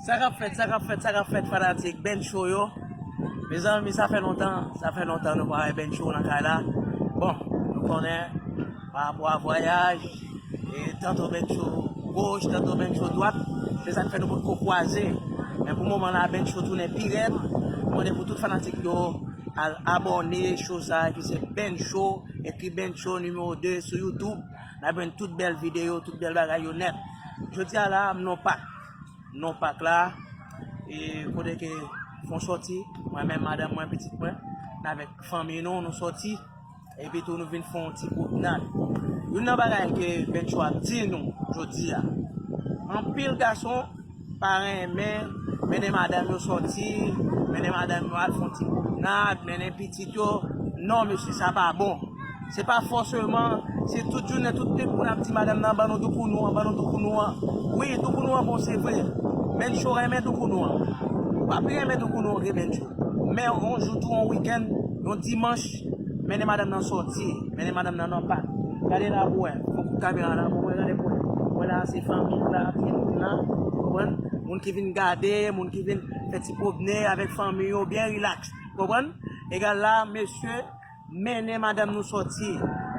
Sa kap fèt, sa kap fèt, sa kap fèt fanatik Ben Show yo Mezanmi sa fè lontan, sa fè lontan nou pa wè Ben Show nan kay la Bon, nou konnen, pa rapò a vwayaj E tanto Ben Show goch, tanto Ben Show dwat Se sak fè nou potko kwaze Men pou moman la Ben Show tounen pi rèd Mwen mande pou tout fanatik yo al abòne Show sa ki se Ben Show Ekiben show numéro 2 sou youtube nap jwenn tout bèl videyo tout bèl bagay yo nèt jodia la m non pak non pak la e kote ke fon sòti mwen men madanm mwen pitit mwen navek fanmi nou nou sòti epi tou nou vin fon ti pwopnad yon nan bagay ke ben show ap di nou jodia anpil gason Pa renmen, mennen madanm yo sòti, mennen madanm yo al fon ti pwomenad, mennen pitit yo, non mesye sa pa bon. Se pa fòseman, si tout jounen tout nip moun ap di madanm nan ban nou doukounou an, ban nou doukounou an. Wi, doukounou an bon se vre, men Tjo renmen doukounou an. Papi renmen doukounou an vre men Tjo. Men yon jou tou yon wikenn, yon dimanch, Mennen madam nan sòti. Mennen madam nan nan pak. Gade la pou wè. Fon kout kamera la pou wè. Gade pou wè. Wè la se fanmi w la. Ti moun nan. Konprann? Moun ki vin gade. Moun ki vin fè ti pwobne avèk fanmi yo. Byen rilaks. Konprann? Egal la mesye. Mennen madam nou sòti.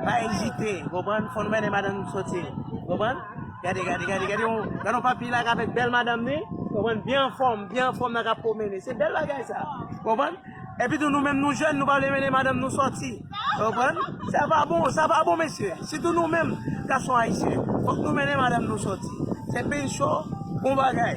Pa ezite. Konprann? Fò nou mennen madam nou sòti. Konprann? Gade gade gade. Gade yon. Gade yon papi la avèk bèl madam ni. Konprann? Byen anfòm. Byen anfòm nan kap pwomene. Se bèl bagay sa. Konprann? Epi tou nou menm nou jèn nou pa vle mennen madanm nou sòti. Ou konprann? Sa pa bon, sa pa bon mesye. Sitou nou menm gason ayisyen. Fòk nou mennen madanm nou sòti. Se pincho, bon bagay.